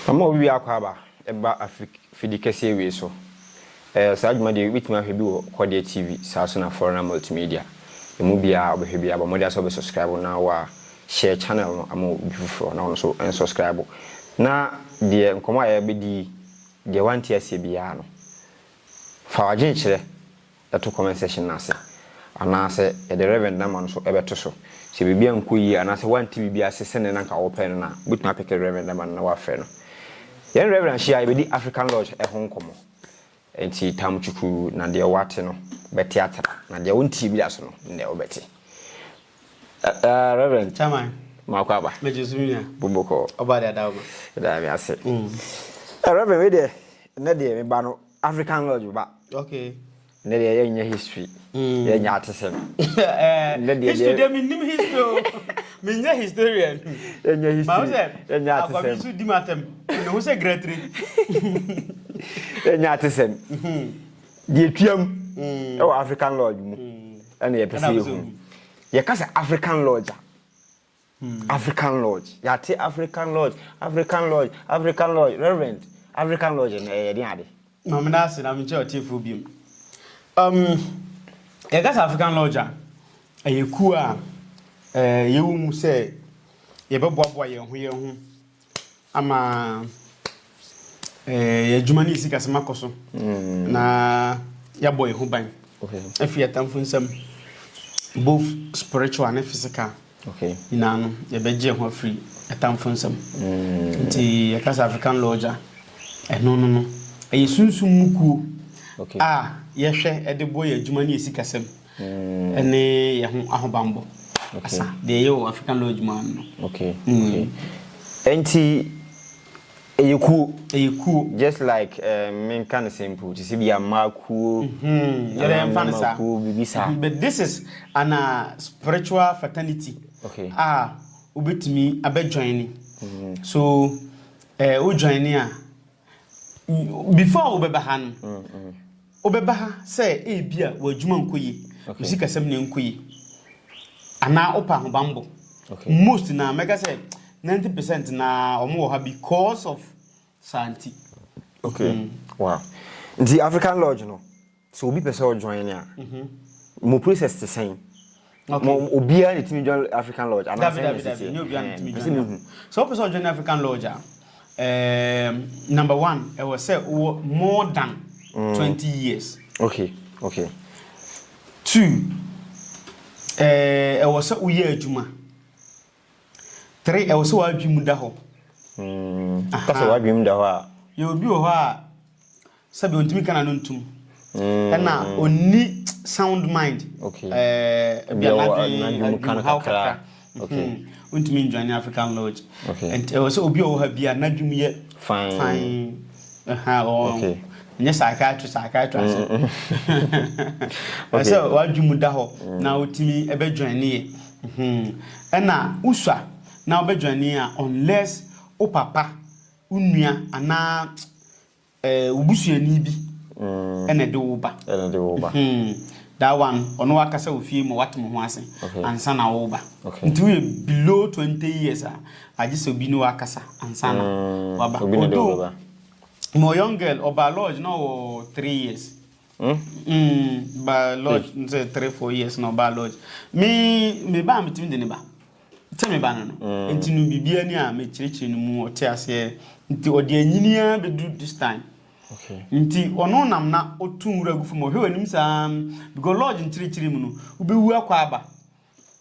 Wɔn a wowie akwaaba ba afidi kɛseɛ wei so. Ɛɛ saa dwumadie yi wobɛtumi ahwɛ bi wɔ Kɔdeɛ TV saa so na Foreigner Multimedia. Ɛmu biara wobɛhwɛ biara bɔ mmɔden asɛ wobɛ subscribe na wa share channel no ama obi foforɔ na ɔno nso ɛn subscribe. Na deɛ nkɔmmɔ a yɛbɛdi yi deɛ wante aseɛ biara no fa w'adwene kyerɛ. to comment section no ase anaasɛ yɛde Rev. Nama no nso bɛto so. Sɛ biribi ankɔ yie anaasɛ woante biribi ase sɛdeɛ na anka wopɛ no no a, wobɛtumi apeke Rev. Nama no na woafrɛ no. Yɛne Rev. hyia a, yɛbɛdi African Lodge ho nkɔmmɔ. Enti tam kyukuruu na deɛ woate no bɛte atra, na deɛ wonteɛ bi da so no, nnɛ wobɛte. Ɛ ɛ Rev. Chairman, Maakɔ aba. Megye so me nua. Bobokɔɔ. Ɔbaa de ada wo ma. Yɛda Nyame ase. Mm. Ɛ Rev. Wei deɛ, nnɛ deɛ me ba no African lodge ba. Okay. Ne deɛ yɛ nyɛ history. Mm. Yɛ nyɛ atesɛm. Eh, ne deɛ history deɛ mi nim history o. Mi nyɛ historian. Yɛ nyɛ history. Maa sɛ yɛ nyɛ atesɛm. Akwabi nso di mu atɛm. Ne ho sɛ gretiri. Yɛ nyɛ atesɛm. Mhm. Deɛ tuam. Mm. Ɛwɔ African lodge mu. Mm. Ɛna yɛ pɛsɛ yɛ hu. Yɛ kasa African lodge a. African Lodge, yɛate African Lodge, African Lodge, African Lodge, Reverend, African Lodge no ɛyɛ ɛdeɛn ade? Ma meda ase na menkyerɛ ɔtiefoɔ biom. Um, yɛka sɛ African Lodge a, ɛyɛ kuo a eh, yɛwɔ mu sɛ yɛbɛboaboa yɛn ho yɛn ho Ama yɛn adwuma ne yɛn sikasɛm akɔ so na yɛabɔ yɛn ho ban afi atamfo nsam both spiritual ne physical nyinaa no yɛbɛgye yɛn ho afiri atamfo nsam mm. nti yɛka sɛ African Lodge a ɛno no no ɛyɛ sunsum mu kuo a yɛhwɛ de bɔ yɛn adwuma ne yɛn sikasɛm ne yɛn ho ahobammɔ asa, deɛ ɛyɛ wɔ African Lodge mu ano no. Okay, mm. okay. Nti ɛyɛ kuo. Ɛyɛ kuo. Just like eh, menka ne simple te sɛ bi ama kuo. Mhm. Yɛrɛ mfa ne saa. Kuo bibi saa. Mhm. But this is an uh, spiritual fraternity. Okay. Ah, wobɛtumi abɛ join ni. Mhm. So, eh, wo join ni a. Before wobɛba ha no, wobɛba ha sɛ ebi a w'adwuma nkɔ yie, wo sikasɛm na ɛnkɔ yie, anaa wopɛ ahobammɔ. Most na mɛka sɛ 90 percent na wɔn wɔ ha because of saa nti. Okay, mm. wow. Nti African Lodge no, sɛ obi pɛ sɛ ɔjoin a mo process te sɛn obiara na ɛtumi join african lodge anaasɛnɛsɛsɛ mehu sɛ wopɛ sɛ ɔjoin african lodge a um, number one ɛwɔ sɛ wowɔ more than mm. 20 years okay okay two ɛwɔ sɛ woyɛ adwuma Three, ɛwɔ sɛ w'adwene mu da hɔ. Mm, ka sɛ w'adwene mu da hɔ a. Yɛ obi wɔ hɔ a sɛbi ontumi ka n'ano ntum. Mm. Ɛna onni sound mind. Okay. Ɛɛ eh, bia n'adwene mu ka no kakra. Okay. Hmm. Ontumi njoin African Lodge. Okay. Ɛnti ɛwɔ sɛ obi wɔ hɔ bi a n'adwene mu yɛ fine. Fine. Ɛha ɔn. Okay. Nyɛ psychiatrist psychiatrist. Mm, mm. Okay. Ɛsɛ w'adwene mu da hɔ na wotumi ɛbɛ join ne yɛ. Hmm ɛna wosua na wobɛdwane a unless wo papa, wo nua anaa eh wo busuani bi ɛna ɛde wo ba. Ɛna ɛde wo ba. Hmm that one ɔno wakasa wɔ fie ma wate mo ho ase Okay. ansa na wo ba. Okay. Nti woyɛ below twenty years a agye sɛ obi ne wo akasa ansa na waba. Obi na ɛde wo Although bɛba. mewɔ young girl ɔbaa lodge na ɔwɔ three years. Hmm? Mm, ba lodge mm. sɛ three four years na ɔbaa lodge me me ba a metumi de ne ba sɛ me ba no no mm. nti no biribiara ni a mekyerɛkyerɛ no mu ɔte aseɛ nti ɔde anyini ara bɛduru this time Okay. nti ɔno nam na ɔtu nwura gu fam ɔhwɛ w'anim saa because lodge nkyirikyiri mu no wobɛwu akɔ aba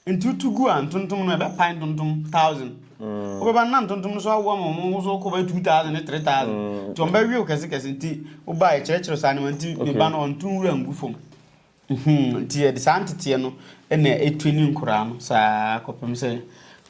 Enti wotu gu a, ntontom no ɛbɛpae ntontom thousand. Mm. Wobɛba no na ntontom no so awoa ma wɔn ho so kɔ bɛyɛ two thousand ne three thousand. Mm. Nti wɔn bɛwew kɛse kɛse nti woba ɛkyerɛkyerɛ saa nneɛma nti ne ba no ɔnto nwura ngu fam. Mhm. Nti yɛde saa nteteɛ no na ɛtwe ne nkoraa no saa kɔpem sɛ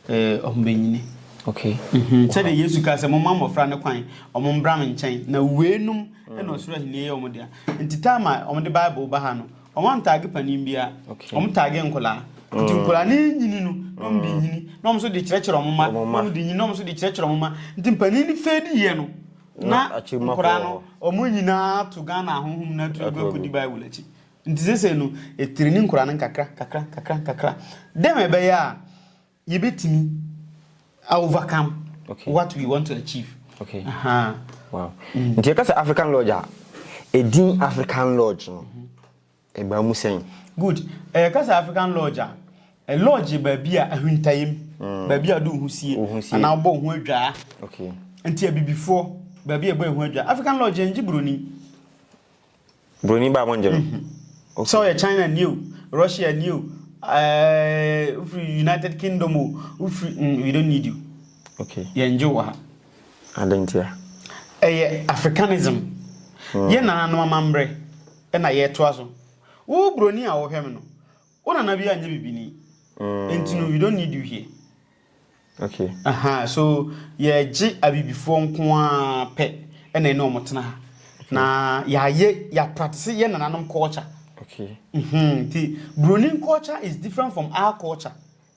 Ee, wɔbɛnyini. Okay. Mhm. Sɛdeɛ Yesu kaa sɛ, Momma mmɔfra no kwan, wɔmmra me nkyɛn, na weinom na ɔsoro ahennie yɛ wɔn dea. Nti time a wɔde Bible ba ha no, wɔantage panin biara. Okay. Wɔtagee nkwadaa. Nti nkwadaa no renyini no, na wɔde renyini, na wɔn nso de rekyerɛkyerɛ wɔn mma, na wɔde renyini, na wɔn nso de rekyerɛkyerɛ wɔn mma. Nti mpanin no fade yɛ no, na nkwadaa no, wɔn nyinaa to Ghana ahonhom no atu akɔ akɔdi Bible akyi. Ntsi sesei no, etser ne nkura no nkakra, nkakra, nkakra, nkakra, dɛ ma ɛbɛyɛ a yebetumi a overcome what we want to achieve. Okay. Ahaa. Wow. Mm. Nti yɛka sɛ African Lodge a, edin African Lodge no, ɛbaa mu sɛn? Good. Ɛyɛ ka sɛ African Lodge a, ɛ lodge yɛ baabi a ahwintayɛ mu, mm. baabi a ɔde wo ho sie, anaa wobɔ wo ho adwaa. Okay. Nti abibifoɔ, baabi a ɛbɔ ɛho adwaa. African Lodge yɛn gye buroni. Broni baa mo ngye no. Mhm. Okay. Sɛ ɔyɛ China ni o, Russia ni o, ɛɛ wofiri United Kingdom o, wofiri mm we don't need you. Okay. Yɛn ngye wɔ ha. Adentia. Ɛyɛ Africanism. Mm. Yɛ nana no amambrɛ ɛna yɛtoa so. Wo broni a wɔhwɛ me no, wo nana bi anyɛ bibini. Mm. Enti no we don't need you here. Okay. Ahaa so yɛgye abibifoɔ nko ara pɛ ɛna ɛne wɔn tena ha. Okay. Na yɛayɛ yɛapratise yɛ nananom culture. Okay. Mm-hmm. Ti Bruni culture is different from our culture.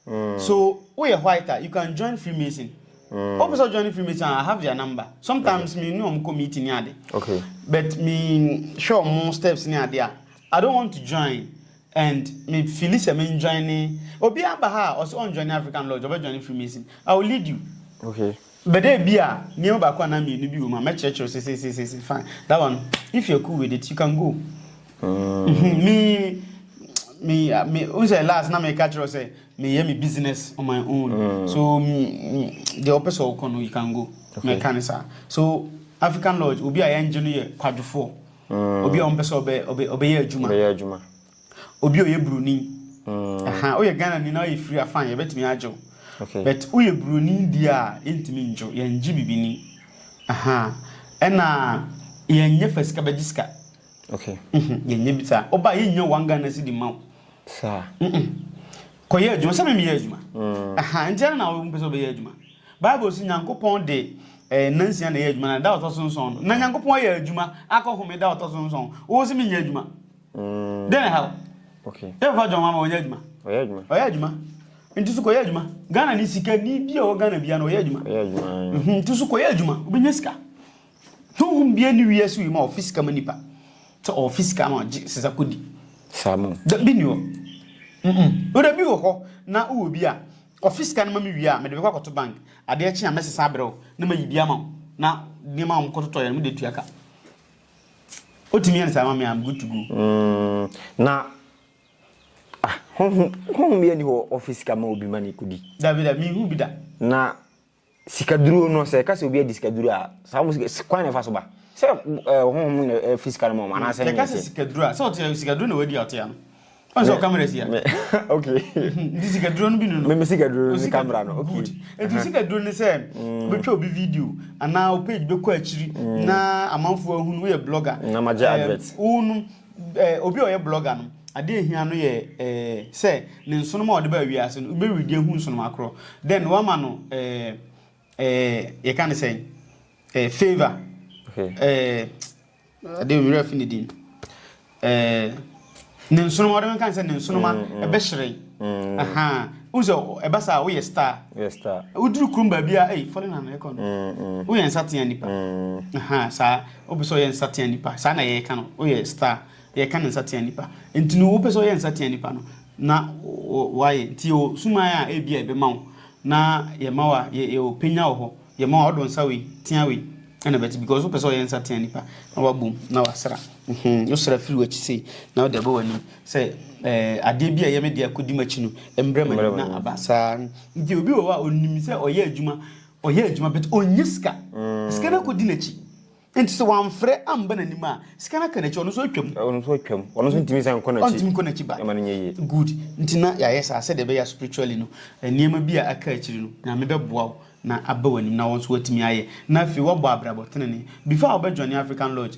Mm. So woyɛ white a you can join Freemason. Mm. Wopɛ sɛ join Freemason I have their number. Sometimes okay. me ne wɔn kɔ meeting ne ade. Okay. But me hwɛ wɔn steps ne ade a I don't want to join. And me feeli sɛ me njoine obiaa ba ha a ɔse ɔnjoine African Lodge ɔbɛ joine Freemason I will lead you okay but ebia nneɛma baako anaa mmienu bi wom a mɛkyerɛkyerɛ wo sesesesese fine that one if you're cool with it you can go mm. me me me n sɛ last na meka kyerɛ wo sɛ meyɛ me business on my own mm. so deɛ wopɛ sɛ wokɔ no you can go meka ne saa so African Lodge obi a yɛngye no yɛ kwadwofoɔ Obi a ɔmpɛ sɛ ɔbɛ ɔbɛ ɔbɛyɛ adwuma. Ɔbɛyɛ adwuma. Obi a ɔyɛ broni. Ɛha woyɛ Ghana ni na ɔyɛ firi afan yɛbɛtumi agye wo. Okay. But woyɛ broni deɛ a yɛntumi ngye wo yɛn gye bibi ni. Ɛha ɛna yɛn nyɛ fɛ sika bɛgye sika. Okay. Yɛn nyɛ bi saa. Ɔba yɛn nya one Ghana cedi ma wo. Saa. Mm mm. Kɔyɛ adwuma sɛ memeyɛ adwuma. Aha, nti ɛna na wɔmpɛ sɛ wɔbɛyɛ adwuma. Bible si Nyankopɔn de eh, nansia na ɛyɛ adwuma na da ɔtɔ so nson no. Na Nyankopɔn ayɛ adwuma akɔ home da ɔtɔ so nson. Wɔwɔ sɛ menyɛ adwuma. Mm. Dɛn na ha? Okay. Dɛn fa John mama wɔnyɛ adwuma? Ɔyɛ adwuma. Ɔyɛ adwuma. Nti so kɔyɛ adwuma. Ghana ni sika ni bi a ɔwɔ Ghana bia na ɔyɛ adwuma. Ɔyɛ adwuma. Mhm, nti so kɔyɛ adwuma. Wobɛnya sika. Honhom biara nni wiase wɔ yi mu a ɔfe sika ma nnipa. Sɛ ɔfe sika ma ɔgye sesa kodi. Saa mu. Da bi ni hɔ. Mm-mm. Wura bi wɔ hɔ na wowɔ bi a, ɔfe sika no ma me wie a, mede bɛkɔ akɔto bank. Adeɛ kye a, mɛsesa abrɛ wo na mayi bi ama wo. Na nneɛma a wɔkɔtotɔeɛ no, mede atua ka. Wotumi yɛ no saa ma me a, I'm good to go. Mm, na, ah, honhom, honhom biara nni hɔ a ɔfe sika ma obi ma no kodi. Dabi, dabi, menhuu bi da. Na. Sikaduro no, sɛ ɛka sɛ obi adi sikaduro a, saa mo sika, kwan na ɛfa so ba? Sɛ ɛɛ ɔhonhom mu na ɛfi sika no ma wɔn anaasɛ ɛnyɛ ɛka sɛ sikaduro a, sɛ ɔte sikaduro na wadi a ɔte ano. Ɔn sɛ ɔkamera si a. Okay. Nti sikaduro no bi no no. Me sikaduro no ne kamera no. Okay. Good. Nti sikaduro ne sɛ wobɛtwa obi video anaa wo page bɛkɔ akyiri na amanfoɔ ahunu woyɛ blogger. Na magye advert. Wo no Eh, obi a ɔyɛ blogger no, adeɛ a ɛhia no yɛ eh, sɛ ne nsonom a ɔde baa wiase no, wobɛredi ahu nsonom akorɔ. Then wama no eh, eh, yɛka ne sɛn? Eh, favor. Okay. Eh, adeɛ mmerɛ fi ne din. Eh, ne nsonom, ɔde menka ne sɛ ne nsonom a, mm, mm. ɛbɛhyerɛn. Mm. Aha. Wohu sɛ ɛba saa woyɛ star. Yes, star. Woduru kurom baabi a, ei, fɔle na na ɛkɔ no. Woyɛ nsatea nipa. Aha, saa. Wopɛ sɛ ɔyɛ nsateaa nnipa, saa na yɛka no, woyɛ star, yɛka no nsateaa nnipa. Nti no wopɛ sɛ ɔyɛ nsateaa nnipa no, na wayɛ. Nti yɛwɔ suman a ebi a ɛbɛma wo, na yɛma wa, yɛwɔ penya wɔ hɔ, yɛma wa, ɔdɔ nsa wei, tea wei, ɛna bɛte, because wopɛ sɛ ɔyɛ nsateaa nnipa, na wabom, na wasra. Mm-hmm, wosra firi w'akyi sei, na wode abɔ w'anim, sɛ ɛɛ adeɛ bi a ɛyɛ me deɛ kɔdi m'akyi no, mmrɛ m'anim na aba. Saa. Nti obi wɔ hɔ a onim sɛ ɔyɛ adwuma, Ɔyɛ adwuma but ɔnnya sika. Sika no akɔdi n'akyi. Nti sɛ wamfrɛ amba n'anim a, sika no aka n'akyi, ɔno nso atwam. Ɔno nso atwam. Ɔno nso ntumi nsan nkɔ n'akyi. Ɔntumi nkɔ n'akyi back. Ɛma no nyɛ yie. Good. Nti na yɛayɛ saa sɛdeɛ ɛbɛyɛ a spiritually no, nneɛma bi a aka akyiri no, Nyame bɛboa wo na aba w'anim na wo nso woatumi ayɛ. Na afei woabɔ abrabɔ tenenee. Before a wobɛjoine African Lodge,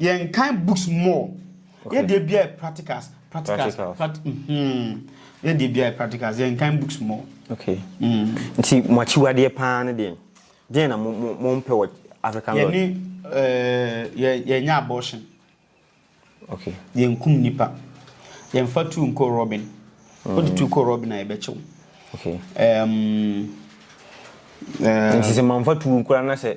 Yɛn kan books more. Okay. Yɛ deɛ biara practicals. Practicals. practicals. Pract mm-hmm. Yɛ deɛ biara practicals. Yɛn kan books more. Okay. Mm. Nti mo akyiwadeɛ paa no deɛ deɛ na mo mo mo mpɛ wɔ African Lord. Yɛne ɛɛ eh, yɛ yɛnyɛ abortion. Okay. Yɛn kum nipa. Yɛn fa tu nko Robin. Mm. Wode tu kɔ Robin a yɛbɛkyew. Okay. Um, um, Nti sɛ mamfa tu nkora na sɛ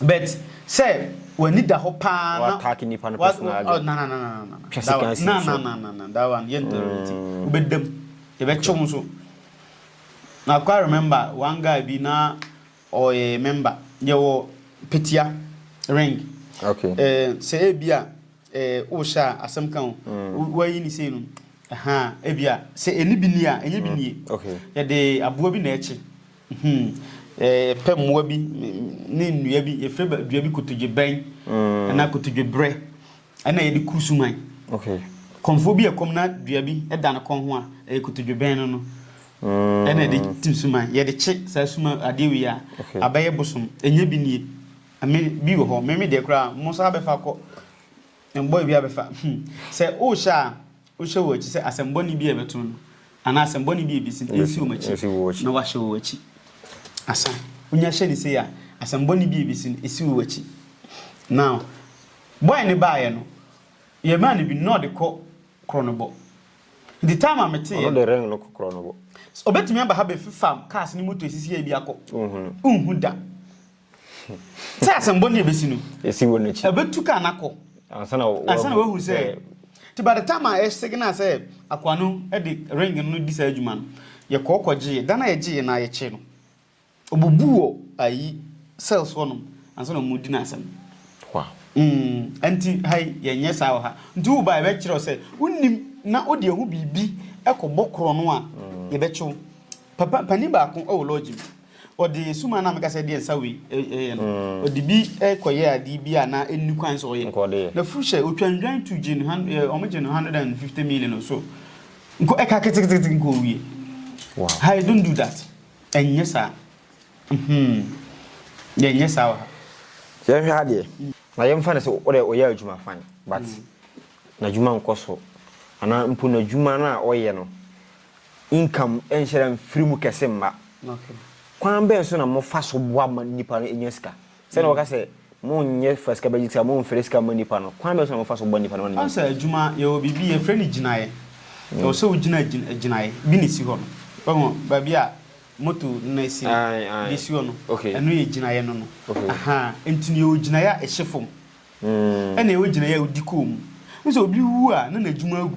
But sɛ w'ani da hɔ paa na. W'attack nipa no personal adwene. Na na na na na na. Twa sika nsi no so. Na na na na na that one yɛn tolerate. Wobɛda mu, yɛbɛkye wo nso. Na kwa remember one guy bi na ɔyɛ member yɛwɔ Petia ring. Okay. Eh, sɛ ebi a eh, wohyɛ a asɛm ka o, wayi ne sei no, ɛhaa, ebi a sɛ ɛni bi ni a, ɛnyɛ bi nie. Okay. Yɛde aboa bi na ɛkye. Hmm, yɛpɛ mmoa bi ne nnua bi. Yɛfrɛ dua bi kotodwe bɛn anaa hmm. kotodwe berɛ ɛna yɛde kuru suman. Okay. Kɔnfoɔ bi ɛkɔm na dua bi ɛda ne kɔn ho a ɛyɛ kotodwe bɛn no no. Hmm. Ɛna yɛde tim suman. Yɛde kye saa suman adeɛ wei a abɛyɛ bosom. Ɛnyɛ bi nie. Ɛmɛ bi wɔ hɔ. Mɛmi deɛ koraa mo nsa abɛfa kɔ. Mbɔ ebi abɛfa. Hmm. Sɛ ɔrehyɛ a Wohyɛ wɔn akyi sɛ asɛm bɔne bi a ɛbɛto no anaa asɛm bɔne bi a ebesi no nsi wɔn akyi na wɔahyɛ wɔn akyi. Asa, wonya hyɛ no sei a, asɛm bɔne bi a ebesi no, esi wo akyi. Now, boy no baeɛ no, yɛmaa no bi no na ɔde kɔ Kronobɔ. Nti time a meteeɛ Ɔno no, de ring no kɔ Kronobɔ. obetumi aba ha bɛfefa cars ne moto esisi ha bi akɔ. Wonhu no. Wonhu da. Sɛ asɛmbɔ ne ebesi no. Esi wɔ n'ekyi. Ebetu kaa no akɔ. Ansa na wahu. Ansa na wahu sɛ. Nti by the time a yɛsignal sɛ akoa no de ring no redi saa adwuma no, yɛkɔɔ kɔgyee. Da no a yɛgyeeɛ no ara yɛkyee no. Ɔbubu wɔ ayi cells hɔnom ansa na wɔredi no asɛm. Wow. Mm, nti ha yi yɛnyɛ saa wɔ ha. Nti wo ba yɛbɛkyerɛ wo sɛ wonim na wode ahu biribi kɔbɔ korɔno a, yɛbɛkye wo. Papa panin baako wɔ lɔɔgye mu. Ɔde sum a na meka sɛ ɛdeɛ nsa wei yɛ no, ɔde bi kɔyɛɛ adeɛ bi a na ɛnni kwan sɛ ɔyɛ. Na firi sɛ ɔtwa nnwan tu gye no, wɔgye no hundred and fifty million or so. Nko ɛka keteketeke nko ɔwie. Hi, don't do that. Ɛnyɛ saa. Hmm. Yɛnyɛ saa wɔ ha. Yɛhwɛ ha deɛ, na yɛmfa no sɛ wodɛ ɔyɛ adwuma fine but n'adwuma nkɔ so anaa mpo n'adwuma no a ɔyɛ no income nhyɛda mfiri mu kɛse mma. Kwan bɛn so na mofa so boa ma nnipa no nya sika? Sɛnea wɔka sɛ, Monyɛ fa sika bɛgye sika, momfɛre sika mma nnipa no. Kwan bɛn so na mofa so boa nnipa no ma no nya sika? Woahu sɛ adwuma, yɛwɔ biribi, yɛfrɛ no gyinaeɛ. Ɛwɔ sɛ wogyina gyinaeɛ bi na ɛsi hɔ no. Woahu baabi a moto no asi no, deɛ ɛsi hɔ no, ɛno yɛ gyinaeɛ no no. Ahaa, enti no yɛwɔ gyinaeɛ a ɛhyɛ fam, ɛnna yɛwɔ gyinaeɛ a wodi kɔn mu. Wohu sɛ obi wu a, na n'adwuma agu.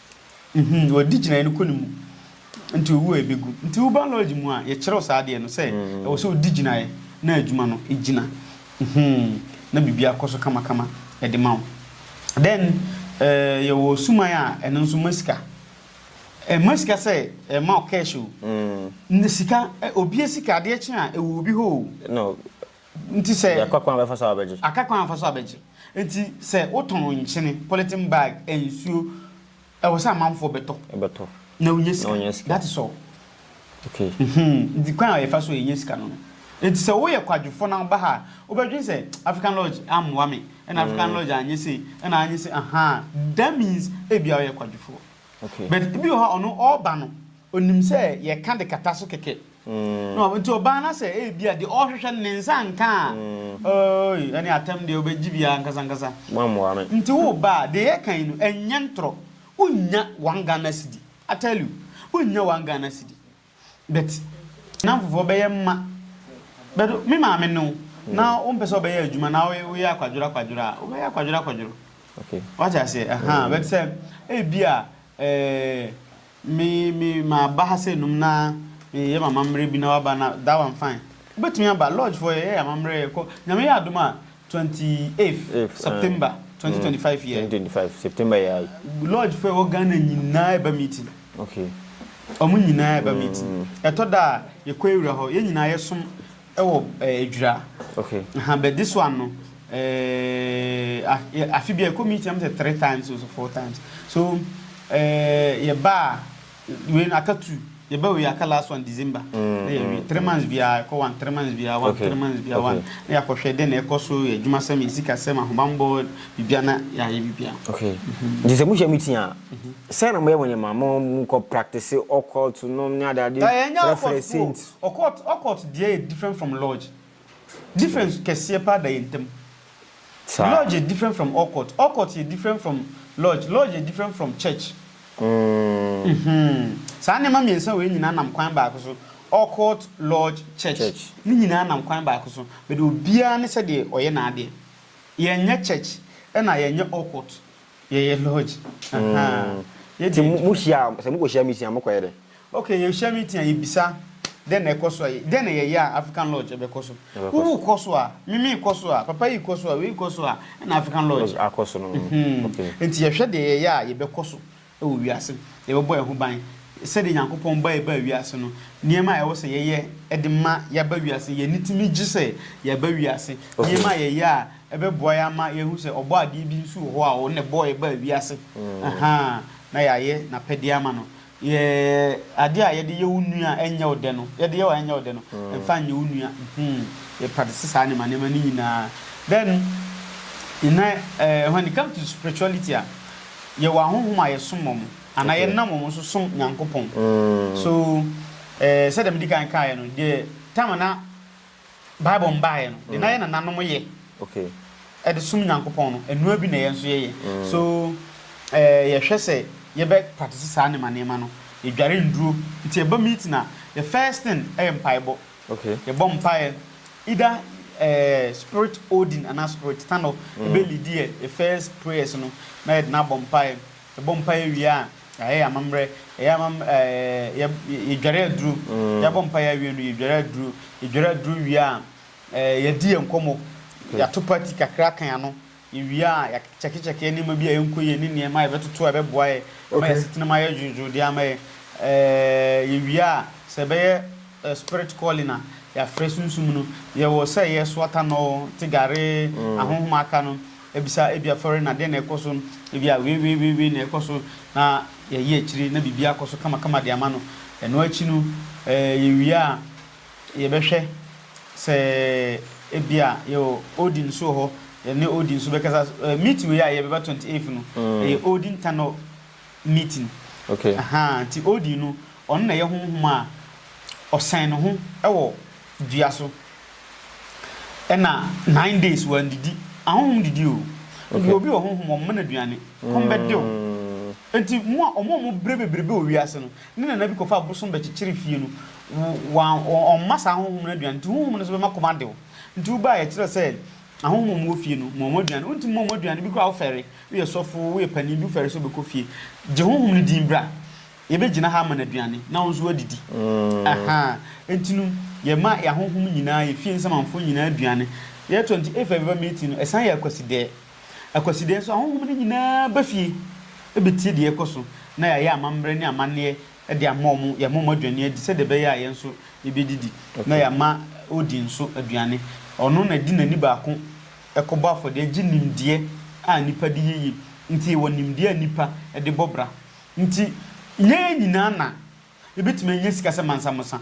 Mhm, wɔadi gyinaeɛ no kɔ ne mu nti ɔwu a ɛbɛgu. Nti wo biology mu a yɛkyerɛw saa adeɛ no sɛ ɛwɔ sɛ ɔdi gyinaeɛ na adwuma no gyina. Mhm, na biribiara kɔ so kamakama de ma wo. Then eh, yɛwɔ suman a ɛno nso ma sika. Ɛmma sika sɛ ɛma wo cash o. Nnɛ sika, eh, obia sika adeɛ kye a ɛwɔ obi hɔ o. No, Nti sɛ. Yɛakɔ kwan a wɔbɛfa so a wɔbɛgye. Aka kwan a wɔfa so a wɔbɛgye. Nti sɛ wotɔn nkyene, polythene bag, nsuo, ɛwɔ sɛ amanfoɔ bɛtɔ. Bɛtɔ. Na wonya sika. Na wonya sika. That is all. Okay. Mhm. Nti kwan a yɛfa so a yɛnya sika no no. Nti sɛ woyɛ kwadwofoɔ na woba ha a, wobɛdwene sɛ African Lodge ammoa me, ɛna African Lodge anyɛ sei, ɛna anyɛ sei, ahaa, that means ebia woyɛ kwadwofoɔ. Okay. But ebi wɔ hɔ a ɔno ɔɔba no, onim sɛ yɛka de kata so kɛkɛ. No, nti ɔbaa na sɛ ebi a deɛ ɔrehwehwɛ no ne nsa nka a, oi, ɛne atɛm deɛ wobɛgye bi ankasa ankasa. Moammoa me. Nti wo ba a, deɛ yɛka yi no, ɛnyɛ ntorɔ. Wonnya one Ghana cedi. I tell you, wonnya one Ghana cedi. But nnamfofoɔ bɛyɛ mma. But me maame ne wo, na wompɛ sɛ wobɛyɛ adwuma na woyɛ akwadworo akwadworo a, wobɛyɛ akwadworo akwadworo. Okay. Wate aseɛ? Ahaa. But sɛ ebi a, eh, Me me maba ha sɛ num na meyɛ m'amammerɛ bi na waba na that one fine wobɛtumi aba lodge foɔ yɛyɛ yɛ amammerɛ yɛkɔ nyame yɛ adom a twenty eighth Eighth, ah. September twenty twenty five yɛ Twenty twenty five September yɛ ayi. lodge foɔ ɛwɔ Ghana nyinaa ɛba meeting Okay. ɔmo nyinaa ɛba meeting ɛtɔ da a yɛkɔ awura hɔ yɛn nyinaa yɛsom Wɔ Adwira ha, but this one no eh afe biara yɛkɔ meeting na mesɛ three times or four times so eh yɛba a wei no aka two yɛba wei aka last one December na yɛwie three months biara yɛkɔ one three months biara one three months biara one na yɛakɔhwɛ dɛn na ɛkɔ so yɛ adwumasɛm yɛ sikasɛm ahobammɔ biribiara na yɛayɛ biribiara. Okay nti sɛ mohyia meeting a sɛn na moyɛ mo nneɛma monkɔ practice occult nom ne adeade frɛfrɛ saint. Ɔkɔɔt ɔkɔɔt deɛ yɛ different from lodge. Difference kɛseɛ paa da yɛn ntam. Saa. Lodge yɛ different from ɔkɔɔt. Ɔkɔɔt yɛ different from lodge. Lodge yɛ different from church. Mm-hmm. Saa nneɛma mmiɛnsa wei nyinaa nam kwan baako so, ɔkɔɔt, lodge, church. Church. Ne nyinaa nam kwan baako so, but obiara ne sɛdeɛ ɔyɛ n'adeɛ. Yɛnyɛ church ɛna yɛnyɛ ɔkɔɔt. Yɛyɛ lodge ahaa yɛ deɛ adwuma. Ti mo hyia sɛ mo kɔ hyia meeting a mo kɔ yɛ dɛ? Okay yɛ hyia meeting a yɛ bisa dɛ na ɛkɔ so a dɛ na yɛ yɛ a African lodge ɛbɛ kɔ so wo wo kɔ so a me me kɔ so a papa yi kɔ so a wei kɔ so a ɛna African lodge akɔ so no mhm nti yɛ hwɛ deɛ yɛ yɛ a yɛ bɛ kɔ so ɛwɔ wiase yɛ bɛ bɔ yɛ ho ban sɛdeɛ Nyankopɔn ba yɛ baa wiase no nneɛma a ɛwɔ sɛ yɛ yɛ ɛde ma yɛ aba wiase yɛ ani tumi gye sɛ yɛ aba wiase nneɛma a yɛ yɛ a. Ɛbɛboa yɛn ama yɛahu sɛ Ɔbɔadeɛ bi nso wɔ hɔ a ɔno na ɛbɔɔ yɛn baa wiase, ahaa, na yɛayɛ n'apɛdeɛ ama no. Yɛ adeɛ a yɛde yɛ wo nua a ɛnyɛ wo dɛ no, yɛde yɛ wo a ɛnyɛ wo dɛ no, mfa nyɛ wo nua. Mhmm, yɛ practice saa nneɛma nneɛma no nyinaa. Then, nnɛ, eh, when it comes to spirituality a, yɛwɔ ahonhom a yɛsom wɔn, anaa Okay. yɛnam wɔn so som Nyankopɔn. So, eh, sɛdeɛ medi kan kaeɛ no, deɛ time a na Bible mbaeɛ no de na yɛ nananom yɛ de som Nyankopɔn no ɛnoa bi na yɛn nso yɛyɛ so yɛhwɛ sɛ yɛbɛ practice saa nneɛma nneɛma no yɛdware nduro nti yɛba meeting a the first thing ɛyɛ mpaebɔ yɛbɔ mpaeɛ either spirit Odin anaa spirit Tanor ɛbɛ lead yɛ the first prayers no na yɛde no abɔ mpaeɛ. Yɛbɔ mpaeɛ wie a, yɛayɛ yɛn amammerɛ. Yɛyɛ amam ɛɛ yɛdware aduro. Yɛabɔ mpaeɛ awie no, yɛdware aduro. Yɛdware aduro wie a, ɛɛ yɛadi yɛn nkɔmmɔ. Yɛato party kakra aka yɛn ano. Yɛwie a, yɛakyɛkekyɛke nneɛma bi a ɛnkɔ yie ne nneɛma a yɛbɛtoto a ɛbɛboa yɛn ama yɛn asetenam ayɛ dwoodwoo de ama yɛn. Ɛɛ yɛwie a, sɛ ɛbɛyɛ spirit calling a, yɛafrɛ sunsum no. Yɛwɔ sɛ yɛsoa tanɔ, te gare, ahonhoma aka no. Abisa ebi afɔre na dɛn na ɛkɔ so no, ebi a weeweeweewee na ɛkɔ so na yɛyɛ akyire na biribiara akɔ so kamakama de ama no. Ɛno akyi no, yɛwie a, yɛbɛhwɛ sɛ ebi a yɛwɔ Odin nso wɔ hɔ, yɛne Odin nso bɛkasa. Meeting wei a yɛyɛ bɛba twenty eighth no, ɛyɛ Odin Tanor meeting. Okay. Aha, nti Odin no, ɔno na ɛyɛ honhom a ɔsɛn ne ho wɔ dua so. Ɛna nine days wandidi. Ahonhom didi o. Nti obi wɔ honhom wɔn mma no aduane. Kɔm bɛde wo. Nti mo a wɔn a wɔbrɛ bebrebe wɔ wiase no, ne nana bi kɔfaa bosom bɛkyekyere fie no, wɔn wɔmma saa ahonhom no aduane. Nti honhom no nso bɛma kɔm ade wo. Nti wobaeɛ a ɛkyerɛ sɛ ahonhom a wɔwɔ fie no, ma wɔn aduane. Wontumi mma wɔn aduane, bi koraa wofɛre, woyɛ sɔfo, woyɛ panin bi wofɛre sɛ wobɛkɔ fie, gye honhom no din bra. Yɛbɛgyina ha ama no aduane na wo nso woadidi. Ahaa, enti no yɛma yɛahohom nyinaa, yɛ fie nsamanfoɔ nyinaa aduane. Yɛtɔ nti if every other meeting no, ɛsan yɛ Akwasidɛɛ. Akwasidɛɛ nso ahohom no nyinaa ba fie bɛtie deɛ ɛrekɔ so na yɛayɛ amammerɛ ne amanneɛ de ama wɔn, yɛama wɔn aduane adi sɛdeɛ ɛbɛyɛ a yɛn nso yɛbɛdidi na yɛama Odin nso aduane. Ɔno na ɛde n'ani baako kɔbɔ afɔdeɛ gye nimdeɛ a nnipa de yɛ yie. Nti yɛwɔ nimdeɛ a nnipa de bɔ bra. Nti, yɛn nyinaa na yɛbɛtumi anya sika sɛ Mansa Musa.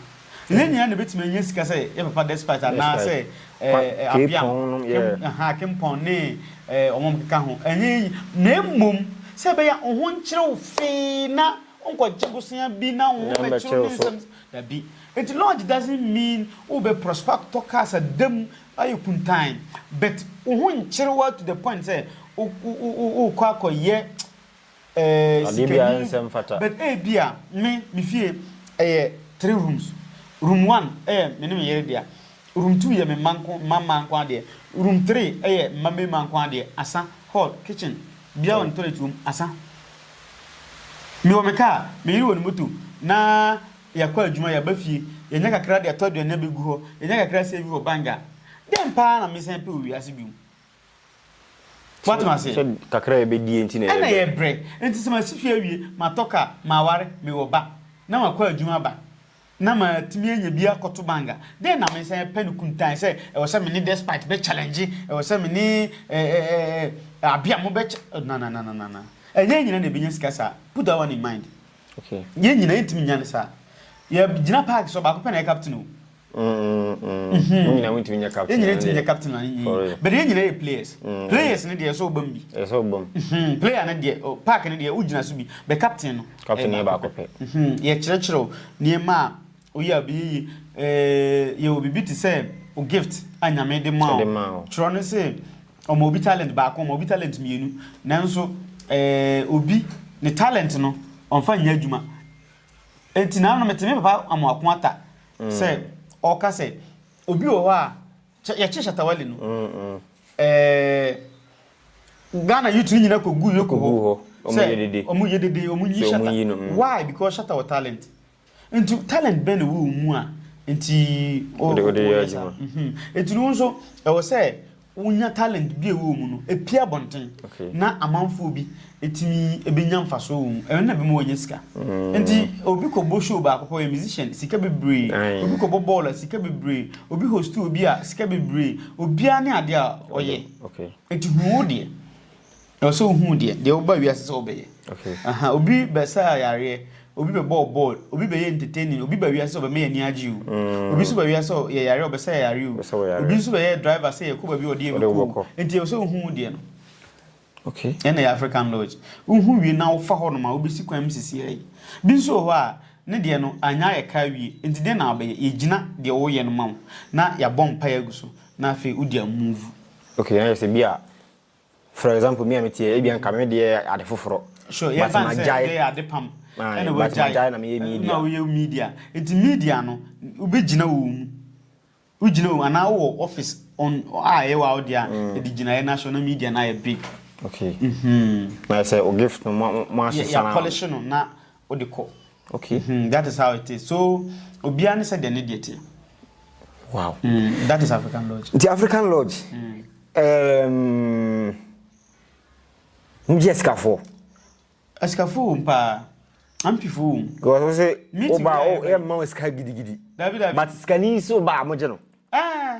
Yɛn nyinaa na yɛbɛtumi anya sika sɛ yɛ papa Despite anaa sɛ ɛɛ Abiam, Kim, aha, Akinpong ne ɛɛ wɔn a wɔkeka ho. Ɛnyɛ yɛn nyi, na mmom sɛ ɛbɛyɛ a wo ho nkyere wo fee na wonkɔgye bosea bi na wo ho mmɛkyere wo ne nsɛm, dabi. Nti lodge doesn't mean wobɛ prosper akɔtɔ cars ada mu ayɛ kuntann but wo ho nkyere wo ara to the point sɛ wo, wo, wo, wo, worekɔ akɔyɛ Adeɛ biara sikani nsɛ mfata. but ebia me me fie ɛyɛ three rooms room one ɛyɛ me ne me yere dea room two yɛ me mma nko mma mmaa nko ara deɛ room three ɛyɛ mma mmarima nko ara deɛ asa hall kitchen biara wɔ ne toilet wɔ mu asa me wɔ me car me yere wɔ ne moto na yɛakɔ adwuma yɛaba fie yɛnya kakra de atɔ aduane abɛgu hɔ yɛnya kakra save wɔ bank a dɛn paa na mesan pɛ wɔ wiase bio Woate m'aseɛ? Sɛ kakra a yɛbɛdie nti na yɛbrɛ. Ɛna yɛbrɛ. Nti sɛ masi fie awie, matɔ car, maware, mewɔ ba, na makɔ adwuma aba, na matumi anya bi akɔto bank a, dɛn na mensan apɛ no kuntann sɛ ɛwɔ sɛ me ne Despite bɛ challenge, ɛwɔ sɛ me ne eh, Abiamo bɛ ch-, na na na na na na. Ɛnyɛ yɛn nyinaa na yɛbɛnya sika saa. Put that one in mind. Okay. Yɛn nyinaa yɛntumi nnya no saa. Yɛgyina park so, ɔbaako pɛ na ɛyɛ captain o. yɛn nyinaa ntumi nyɛ captain yɛn nyinaa ntumi nyɛ captain na ne For real. but yɛn nyinaa yɛ players Mm. players ne deɛ ɛsɛ ɔba mu bi ɛyɛ sɛ ɔbam Mhm, player ne deɛ oh, park ne deɛ wogyina so bi but captain no Captain ɛyɛ yɛ baako pɛ. Mhm, yɛkyerɛkyerɛ wo nneɛma a woyɛ a bɛyɛ yi Eh, yɛwɔ biribi te sɛ wo gift a nyame de ma Ɔde ma wo. wo twerɛ no se ɔma obi talent baako ɔma obi talent mmienu nanso eh, obi ne talent no ɔmfa nyɛ adwuma Enti naano mete me papa Amoako Atta sɛ ɔreka sɛ obi wɔ hɔ a kyɛ yɛkye Shatta Wale no ɛɛ Ghana youth no nyinaa kɔgu Yoko hɔ sɛ ɔmo yɛ dede ɔmo nyi Shatta why because Shatta wɔ talent nti talent bɛn na ɛwɔ wo mu a nti ɔde yɛ adwuma nti no wo nso ɛwɔ sɛ wonya talent bi a ɛwɔ wɔn mu no pue abɔnten na amanfoɔ bi tumi bɛnya mfasoɔ wɔ mu, ɛno na ɛbɛma wɔanya sika. Nti obi kɔbɔ show baako pɛ, ɔyɛ musician, sika bebree, obi kɔbɔ bɔɔl a, sika bebree, obi host obi a, sika bebree, obiara ne adeɛ a ɔyɛ. Nti hu wo deɛ. Ɛwɔ sɛ wohu deɛ deɛ woba wiase sɛ wobɛyɛ. Okay. Aha, obi bɛsaa yareɛ, obi bɛbɔɔ bɔɔl, obi bɛyɛ entertaining, obi ba wiase sɛ ɔbɛma yɛ ani agye o. Mm. Obi nso ba wiase sɛ yɛ yareɛ ɔbɛsa yɛ yareɛ o. Obi nso bɛyɛ driver sɛ yɛkɔ baabi ɔde yɛ bɛkɔ. Nti ɛwɔ sɛ wohu deɛ no. Okay. Ɛna yɛ African Lodge. Wohu wie na wofa hɔ nom a wobɛsi kwan mu sisi ayi. Bi nso wɔ hɔ a ne deɛ no anya yɛ ka wie. Nti deɛ na wobɛyɛ yɛgyina deɛ woyɛ no ma wo na yɛabɔ mpaeɛ agu so na afei wode amuvu. Okay, na yɛ sɛ bi a For example me a mete yɛ ebia nka me deɛ yɛ ade foforɔ. Sure yɛ fan sɛ ɛbɛyɛ ade pam ɛna wagyae na meyɛ media. Na woyɛ media nti media no wobɛgyina wɔ mu wogyina wɔ mu anaa wowɔ office on a ɛyɛ wɔ awo deɛ a ɛde gyinaeɛ no ahyɛ na media no ayɛ big. Okay. Mm-hmm. Na sɛ o gift no mo mo asesa na. Yɛ polish no na wode kɔ okay hmm that is how it is so obiara ne sɛ deɛ ne deɛ teɛ wow mm, that is african lodge nti african lodge mm. um, mogyɛ sikafoɔ asikafoɔ wom paa ampifo wom wɔsɛ sɛ woba yɛmma wo sika gidigidi but sikani sɛ woba a mogye no ah.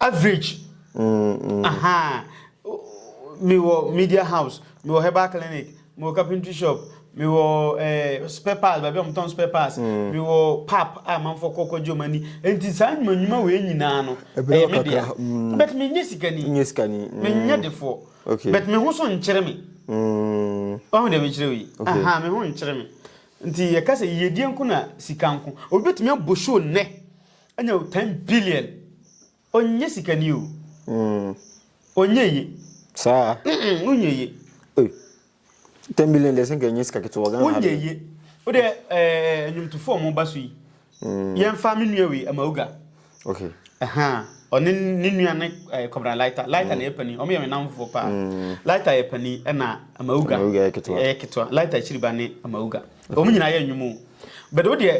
Average ahaa Me wɔ media house, me wɔ herbal clinic, me wɔ carpentry shop, me wɔ eh, spare parts, baabi a wɔtɔn spare parts, mm. me wɔ pap a manfo kɔ kɔgye wɔn ani. Nti saa nnwuma nnwuma wei nyinaa no, ɛyɛ me dea. Mm. But menyɛ sikani. Nyɛ sikani. Mm. Menyɛ defoɔ. Okay. But me ho so nkyerɛ me. Mm. Ɔho deɛ mekyerɛ wei. Okay. Aha, me ho nkyerɛ me. Nti yɛka sɛ yiedie nko na sika nko. Obi betumi abɔ show nnɛ. Anya o ten billion ɔnyɛ sikani o ɔnyɛ ye saa wonyɛ ye ten billion deɛ sɛ nka ɛnyɛ sika ketewa Ghana wonyɛ ye o deɛ ɛɛ nnwomtofoɔ ɔmo ba so yi yɛnfa me nua wei Amauga okay ɛha ɔne ne nua ne ɛɛ kɔbra lighter lighter na yɛ pani ɔmo yɛ me namfoɔ paa lighter yɛ pani ɛna Amauga Amauga yɛ ketewa. ɛyɛ ketewa lighter akyiri ba ne Amauga ɔmo nyinaa yɛ nnwom o bɛde o deɛ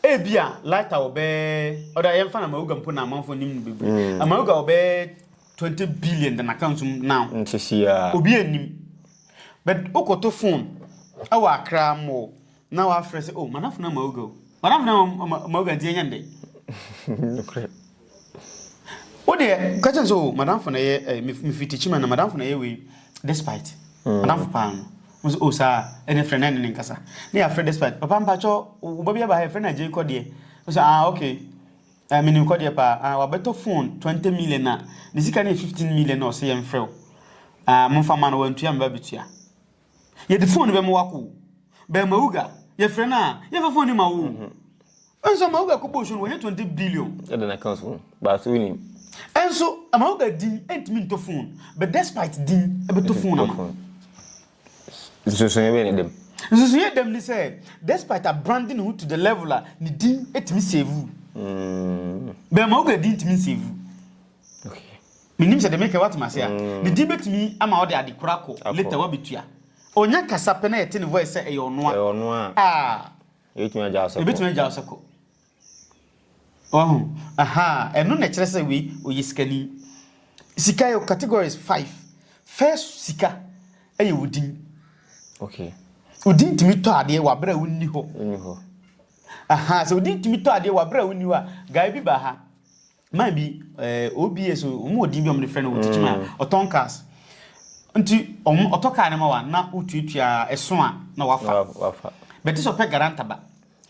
Ebia lighter wɔ bɛɛ ɔda yɛn fa na mawuga mpo na amanfoɔ nim no bebree. Mm. Amawuga wɔ bɛɛ twenty billion da n'aka nsum now. Nsisi a. Obi anim. But wokɔto phone ɛwɔ akra mo na wafrɛ sɛ oh manafo na amawuga o. Manafo na amawuga nti yɛnyɛ ndɛ. Nukuri. Wo deɛ ka kyɛn sɛ o madamfo na ɛyɛ eh, mefiri tikyima na madamfo na ɛyɛ wei despite mm. madamfo paa no mo sɛ o saa ɛne frɛ na ɛne ne nkasa ne yɛafrɛ despite papa mpakyɛ wo ba bi aba ha yɛfrɛ no agyei kɔdeɛ wo sɛ ah okay eh, menim kɔdeɛ paa ah, wabɛtɔ phone 20 million na ne sika no yɛ 15 million na ɔsɛ yɛmfrɛ wo ah, momfa ma no wantua meba bɛtua Yɛde fone bɛma wo akɔ o. Bɛn Mawuga, yɛfrɛ no a, yɛmfa fone no ma wo o. Nso Mawuga kɔbɔɔ show no wɔnyɛ 20 billion. Ɛde na kan so, baasa wo nim. Nso Mawuga din ɛntumi ntɔ fone, but despite din ɛbɛtɔ fone ama. Nsonsonoeɛ bɛn ne dam? Nsonsonoeɛ dam ne sɛ, despite a branding ne ho to the level a, ne din ɛtumi save wo. Bɛn Mawuga din ntumi nsave wo. Mennim sɛ deɛ mereka yi woate me ase a. Ne din bɛtumi ama ɔde adekora akɔ, later woabɛtua. Ɔnya kasa pɛ na yɛte ne voice sɛ ɛyɛ ɔno a, ah, yɛbɛtumi agya wo sɛ kɔ. Wahu? Ahaa, ɛno na ɛkyerɛ sɛ wei, ɔyɛ sikani. Sika yɛ categories five. First sika yɛ wo din. Wo din tumi tɔ adeɛ wɔ aberɛ a wonni hɔ. Ahaa, sɛ wo din tumi tɔ adeɛ wɔ aberɛ a wonni hɔ a, guy bi baa ha, man bi ɛɛ eh, oba so wɔn wɔ din bi a wɔde frɛ no wɔ tikyi mu a ɔtɔn cars nti wɔn ɔtɔ car no ma wa na wotuatua ɛso a na wafa bɛte sɛ ɔpɛ garanta ba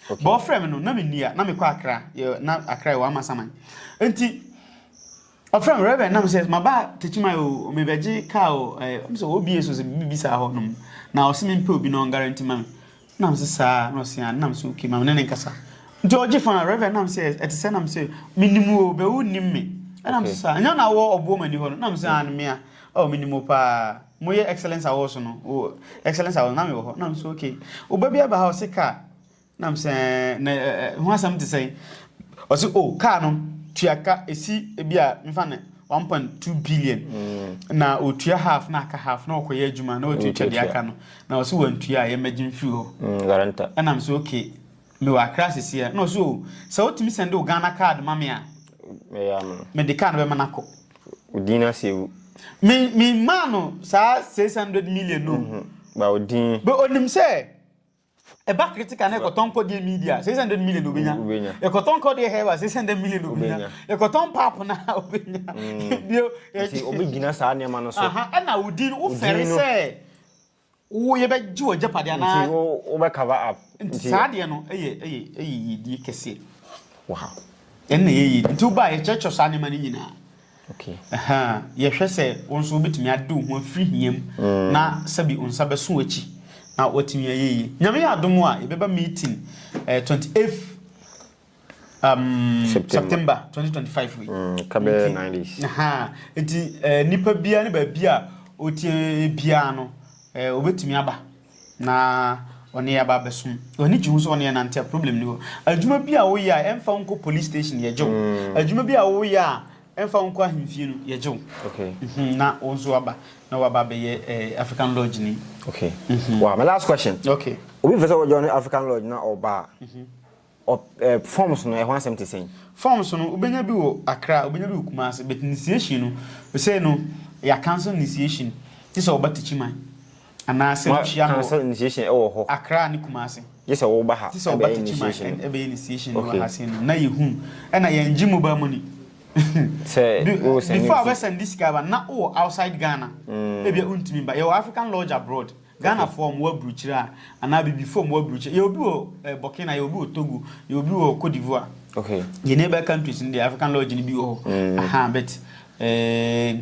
okay. bɔn ɔfrɛ mi no na mi nia na mi kɔ akra yɛ na akra yɛ wɔn ama saman nti ɔfrɛ mi rɛbɛn nam sɛ ma ba tikyi mu ayɛ o mi bɛ gye car o ɛɛ eh, ɔmo sɛ oba so sɛ bibi saa hɔ nom na ɔsi mi mpɛ obi na ɔn garanti ma mi. Nam se saa na ɔse a nam se ok ma me ne no nkasa nti ɔgye fon a Rev nam se ɛte sɛ nam se me nim wo bɛ wo nim me ɛnam se saa ɛnyɛ na wɔ ɔboɔ mani hɔ no nam se an mea oh me nim wo paa mo yɛ excellence awɔ so no wo excellence awɔ nam wɔ hɔ nam se ok wo ba bi aba ha ɔse kaa nam se na ho asɛm te sɛ ɔse oh kaa no tua ka esi ebi a mefa ne one point two billion mm. na otua half na aka half na ɔkɔyɛ adwuma na ɔtumi twa deɛ aka no na ɔsɛ wantua a yɛmmɛgye mfiri hɔ mm, ɛnam sɛ okay mewɔ akra seseɛ na ɔsɛ o oh, sɛ wotumi sɛnde wo ghana card ma me a mede car no bɛma no akɔ odin no asɛ wu memaa no saa six hundred million no mm-hmm. ba odin bɛ onim sɛ Ɛba critical na ɛkɔtɔ nkɔ deɛ midi a, 600 million na obenya. Mm, ɛkɔtɔ nkɔ deɛ hɛba, 600 million na obenya. Ɛkɔtɔ mpapo na obenya. Mm. Bio. Ɛti obegyina saa nneɛma no so. Aha, ɛna wodi no wofɛre sɛ wo yɛbɛgye wɔ agyapadeɛ anaa. Nti wo wobɛ cover up. Nti saa deɛ no ɛyɛ ɛyɛ ɛyɛ yidie kɛseɛ. Wow. Ɛna ɛyɛ yidie. Nti wobaa yɛkyerɛkyerɛ saa nneɛma no nyinaa. Yɛhwɛ sɛ wo nso wobɛtumi ade wo ho afiri hia mu na sɛbi wo nsa bɛso w'akyi na woatumi ayɛ yie. Nyame yɛ adom a, yɛbɛba meeting eh, 28th um, September 2025 wei. Mm, kabɛ 90s. Ha, eti eh, nipa bia ne baabi a otie bia no, eh, obetumi aba. na ɔne yɛ aba abɛsom ɔne gye ho sɛ ɔne yɛ nante a problem ni hɔ adwuma bi a woyɛ a ɛmfa nko police station yɛ gyew mm. adwuma bi a woyɛ a ɛmfa nko ahemfie no yɛ gyew okay. mm -hmm. na wo nso aba na waba abɛyɛ eh, african lodge ni okay. mm -hmm. wow, my last question okay. obi fɛ sɛ wɔjoin african lodge na ɔba a mm -hmm. Ɔ eh, forms no, ɛho asɛm te sɛn? Forms no, wobɛnya bi wɔ Accra, wobɛnya bi wɔ Kumasi, but initiation no, sei no, yɛ cancel initiation, gye sɛ woba Tikyiman, anaa sɛ wohyia no wɔ. Cancel initiation ɛwɔ hɔ. Accra ne Kumasi. Gye sɛ woba ha ɛbɛyɛ initiation no. Gye sɛ woba Tikyiman ɛbɛyɛ initiation no wɔ ha sei no, na yɛhu, ɛna yɛngye mobile money. Sɛ wosɛnde. Before a wobɛsɛnde sika ba no, na wowɔ outside Ghana, ebia wontumi mba, yɛwɔ African Lodge abroad. Ghana foɔ ɔmo wɔ abrukyire a anaa abibifoɔ ɔmo wɔ abrukyire yɛwɔ bi wɔ Burkina yɛwɔ bi wɔ Togo yɛwɔ bi wɔ Cote d'Ivoire okay yɛ neighbor countries no deɛ African lodge no bi wɔ hɔ ahaa but eh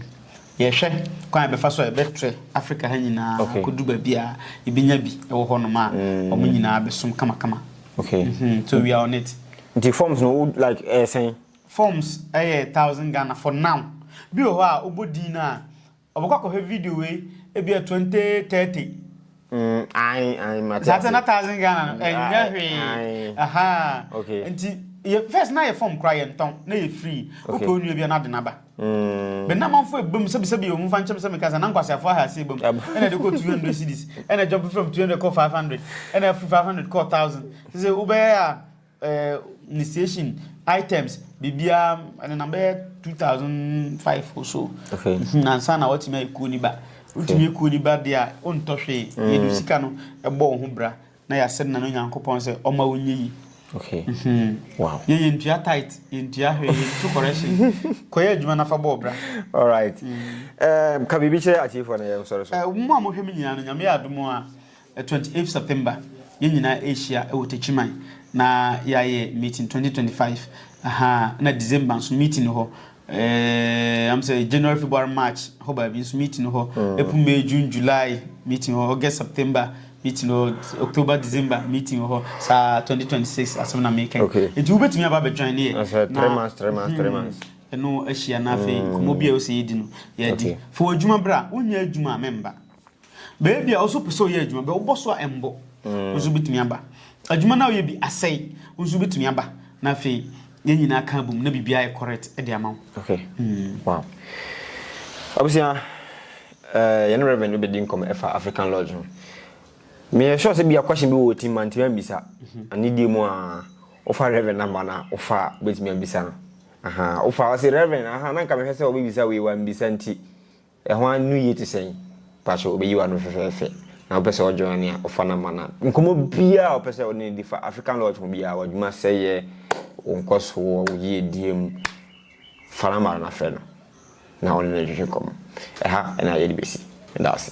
yɛhwɛ kwan a bɛfa so a yɛbɛtrɛ Africa ha nyinaa okay kodu baabi a yɛbɛnya bi ɛwɔ hɔ nom a ɔmo nyinaa bɛsom kama kama okay mhm so we are on it nti forms no wo like ɛsɛn forms ɛyɛ thousand Ghana for now bi wɔ hɔ a wobɔ din no a Ɔbɔkɔ akɔhwɛ video wei ebia twenty thirty. Mm, ayi ayi mate. Saa na thousand Ghana no ɛnyɛ hwee. Aha. Okay. Nti yɛ first na yɛ form kura yɛ ntɔn na yɛ free. Wopɛ onua bia na de naba. Mm. Bɛ na manfo ebam sɛbi sɛbi yɛ wɔn fa nkyɛm sɛ meka sɛ na nkwasiafo aha ase ebam. Ɛna de kɔ 200 cedis. Ɛna jump from 200 kɔ 500. Ɛna free 500 kɔ 1000. Sɛ sɛ wobɛyɛ a eh, initiation items biribiara ɛnenam bɛyɛ two thousand five or so okay. Mhm, ansa na watumi ayɛ kuo ni ba wotumi yɛ kuo ni ba deɛ a wontɔ hwee mm. yɛde sika no ɛbɔ wo ho bra na yɛasɛ nna no onyankopɔn sɛ ɔma wonyɛ yi Okay. Mm-hmm. Wow. Yeah, you into tight, into your hair, into correction. Koya, you man of a bobra. All right. Mm. Um, can we be sure at you for a sorry? Uh, Mamma, we mean, and Yamia Dumois. Twenty eighth September yɛn nyinaa ɛrehyia wɔ Techiman na yɛayɛ meeting twenty twenty five ahaa ɛna December nso meeting no hɔ ɛɛ am sɛ January February March hɔ baabi nso meeting no hɔ mm. April May June July meeting hɔ August September meeting hɔ October December meeting hɔ saa twenty twenty six asɛm na meka okay. nti wobɛtumi aba abɛjoin ne yɛ sɛ three months three months three hmm. months ɛno ahyia na afei mm. nkɔmmɔ bi a ɛwɔ sɛ yɛdi no yɛadi okay. fa wɔ adwuma berɛ a wonyɛ adwuma a memba Baabi a wo nso wopɛ sɛ ɔyɛ adwuma bɛ wobɔ so a ɛmbɔ mm. nso bɛtumi aba adwuma no a woyɛ bi asɛe wo nso bɛtumi aba na afei yɛn nyinaa ka bom na biribiara yɛ correct de ama wo okay. mm. wow. abusua uh, eh, yɛne reverend wobɛdi nkɔm ɛfa african lodge ho meyɛ sure sɛ bia question bi wɔ ɔtim ma ntimi ambisa mhm. anedie mu a wofa reverend namba no a wofa wobɛtumi ambisa no wofa ɔse reverend aha na nka mehwɛ sɛ wobɛbisa wei wambisa nti Ɛho a no yie te sɛn? Pakyɛ ɔbɛyi w'ano fɛfɛɛfɛ na wopɛ sɛ ɔjoin ne a ɔfa number no a nkɔmmɔ biara a ɔpɛ sɛ ɔne no di fa African Lodge ho biara, w'adwuma sɛeɛ, wo nkɔsoɔ, wo yiedie mu, fa number no na frɛ no na ɔne no ntwetwe nkɔmmɔ. Ɛha na yɛde bɛsi. Meda ase.